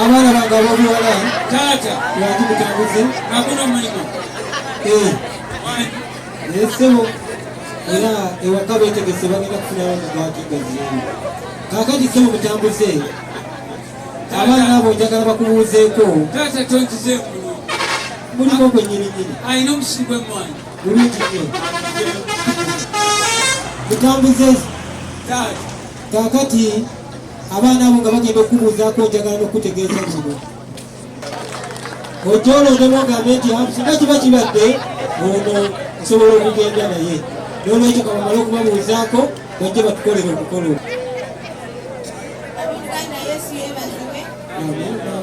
abaana bange abobuwala taata lwaki mutambuze akola omulimu eh. naye ssebo era ewaka betegese bagenda kufunawo mugwati gaziyamu kakati ssebo mutambuze abaana abo njagala bakubuuzeeko taata tonkize engulu muliko gwe nyininyini alina omusiri gwemwana bulungi nyo mutambuze taata kakati abaana abo nga bagenda okukubuuzaako njagala n'okutegeeza kino ojoola odemu ogambe nti singa kiba kibadde ono nsobola okugenda naye nolwekyo kabamale okubabuuzaako bajje batukolere omukolo Amen.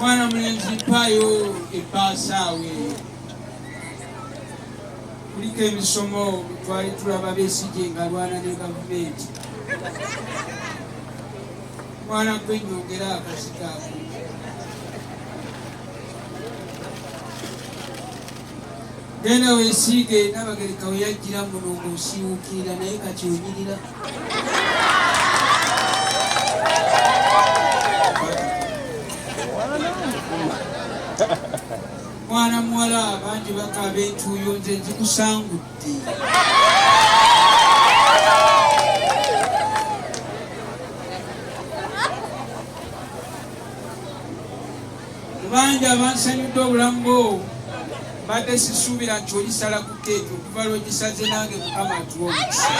mwana mulenzi mpaayo ebbaasaawe kuliko emisomo twali tulaba besije ngalwana ne gavumenti mwana gwe nyongera akazikaako Genda wesiige Nabagereka we yajjira muno ng'osiiwuukirira naye kati onyirira. Mwana muwala bangi bakaaba entuuyo nze nzikusangudde. Bangi abansanyudde obulamu bwo mbadde sisuubira nti olisala ku keeki okuva lwogisaze nange mukama atuwa omukisa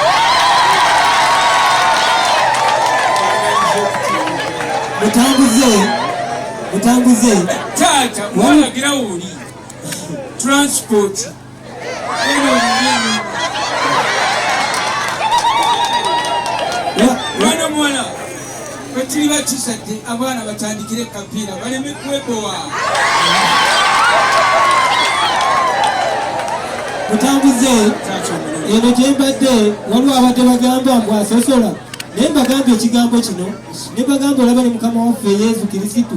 mutambuze mutambuze taata walagira woli transport mwana muwala kwekiri bakisadde abaana batandikire ekapiira baleme kwebowa mutambuze eno gyembadde waliwo abadde bagamba mbu asosola naye mbagamba ekigambo kino ne bagamba olaba ne mukama waffe yesu kirisitu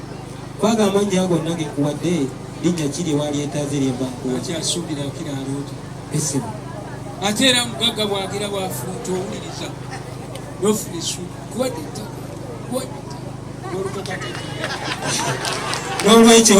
Kwaga amannya ago nage kuwadde linnya ki lye walyetaaze lye mba nkuwa. Ati asuubira akira aloota. Essimu. Ate era mugagga bw'agira bw'afuuta owuliriza n'ofuna essuubi kuwadde ettaka kuwadde ettaka n'olukakataka. N'olwekyo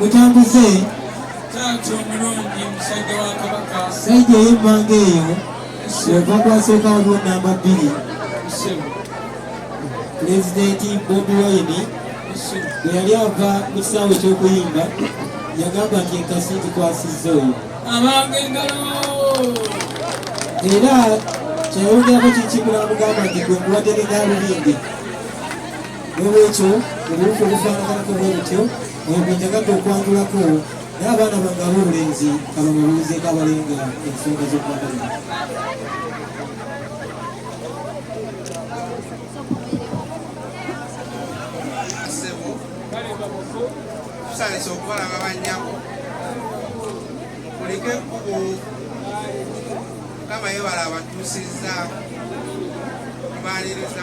mutambuze taata omulungi musajja wa kabaka saija ey'emmanga eyo weva kwasooka waliwo namba bbiri pulezidenti bobi wayini bwe yali ava mu kisaawe eky'okuyimba yagamba nti enkasi ngikwasizza oyo era kyayongerako kikimula mugamba nti gwe nkuwadde ne galubindi n'olwekyo obuwuka obufaanaganako bwe butyo oyo gwe njagadde okwatulako naye abaana bange ab'obulenzi kabababuuzeeko abalenga ensonga z'okwagala tusanise okubalaba bannyabo kulika ekkubo mukama yebala abatuusizza tumaliriza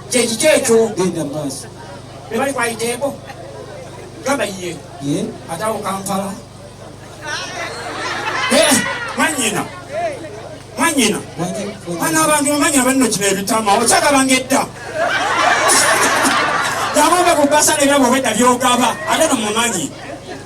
kyekiki ekyo genda maaso bebali kwayiteeko gamba ye atawo kampala eh, mwanyina mwanyina mwana abantu omanyina banno kino ebitama okyagabanga edda yabomba ku basa nebyaboba edda byogaba ate no mumanyi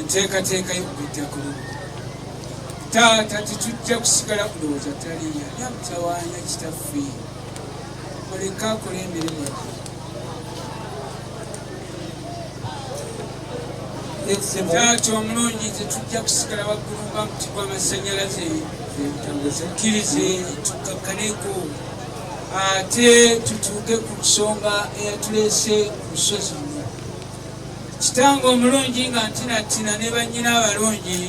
enteekateeka y'okujja ku luno taata tetujja kusigala kulowooza taliya yamutawaanya kitaffe oleka akola emirimu taata omulungi tetujja kusigala waggulu nga muti gw'amasannyalaze tukkirize tukakkaneko ate tutuuke ku nsonga eyatuleese ku lusozi Kitange omulungi nga ntinattina ne bannyina abalungi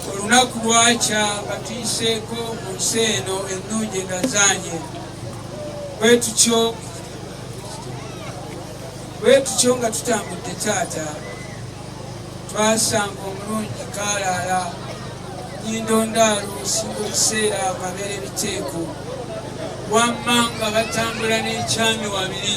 olunaku lwakya batuyiseeko mu nsi eno ennungi endazaanye bwe tutyo bwe tutyo nga tutambudde taata twasanga omulungi kaalaala nyindo ndaalo singa ebiseera amabeera ebiteeko wamma nga batambula n'ekyami wabiri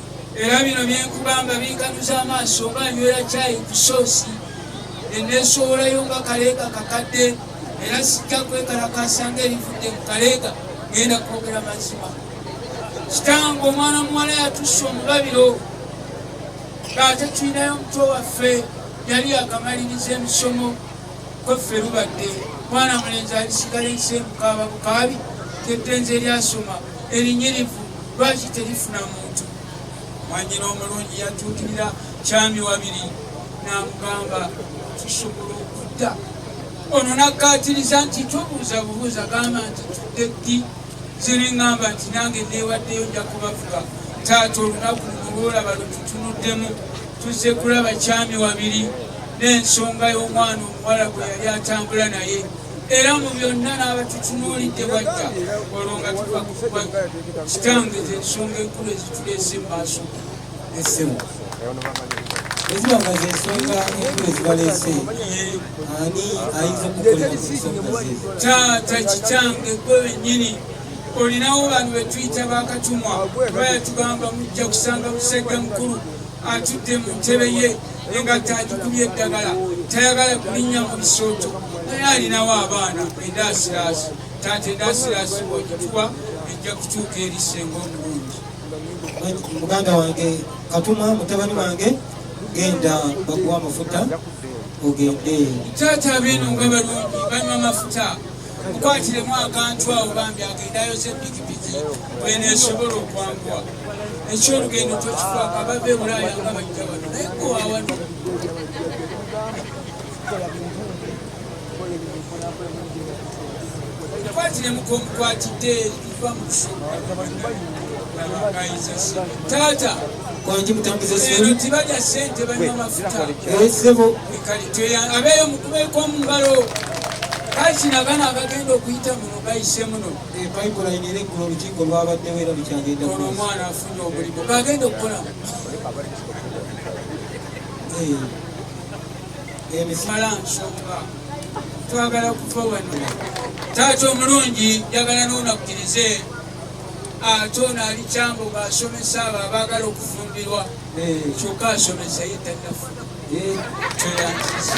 era bino byenkugamba binkanuza amaaso nga nywera kyayi ku soosi eneesowolayo nga kaleega kakadde era sijja kwekalakaasa nga erivudde mu kaleega ngenda kwogera mazima kitange omwana muwala yatusse omubabiro ng'ate tulinayo omuto waffe yali akamaliriza emisomo kweffe lubadde mwana mulenzi alisigala ensembukaaba bukaabi kyettenzi eryasoma erinyirivu lwaki terifuna muntu mwanyina omulungi yatuukirira kyami wabiri namugamba tusobola okudda ono nakkaatiriza nti tobuuza bubuuza gamba nti tudde ddi ziriŋamba nti nange neewaddeyo nja kubavuga taata olunaku luno lwolaba lwetutunuddemu Tuzze kulaba Kyami Wabiri n'ensonga y'omwana omuwala gwe yali atambula naye era mu byonna n'abatutunuulidde bwajja olwo nga tuva kukuba kitange z'ensonga enkulu ezituleese mu maaso essemu eziba nga z'ensonga enkulu ezibaleese ani ayinza okukolera mu nsonga ze taata kitange gwe wennyini olinawo bantu betuyita bakatumwa bayatugamba mujja kusanga musajja mukulu atudde mu ntebe ye engatta agikubye eddagala tayagala kulinnya mu bisooto naye alinawo abaana endaasiraasi taata endaasiraasi bwogituwa ejja kutuuka eri senga omulungi muganda wange katuma mutabani wange genda bakuwa amafuta ogende taata abeeno nga balungi banywa amafuta mukwatiremu akantu awo bambi agenda ayoze pikipiki wena esobola okwanguwa ekyolugendo tokifaako abava ebulaaya nga bajja wano naye gowawano mukwatiremu komukwatidde taata kwanji mutambuze sente tibaja sente banywa mafuta esebo abeyo mukubeko omungalo kakino abana abagenda okuyita muno bayise muno eh, pipeline era ekula olukiiko lwabaddewo era lukyagenda ono omwana afunye omulimu bagenda okukola eh, emisala eh, nsonga twagala kuva wano taata omulungi njagala nonakukirize ate ono ali kyambo ngaasomesa abo abaagala okufumbirwa eh. kyokka asomesa ye tanafuna eh. tweyanzisa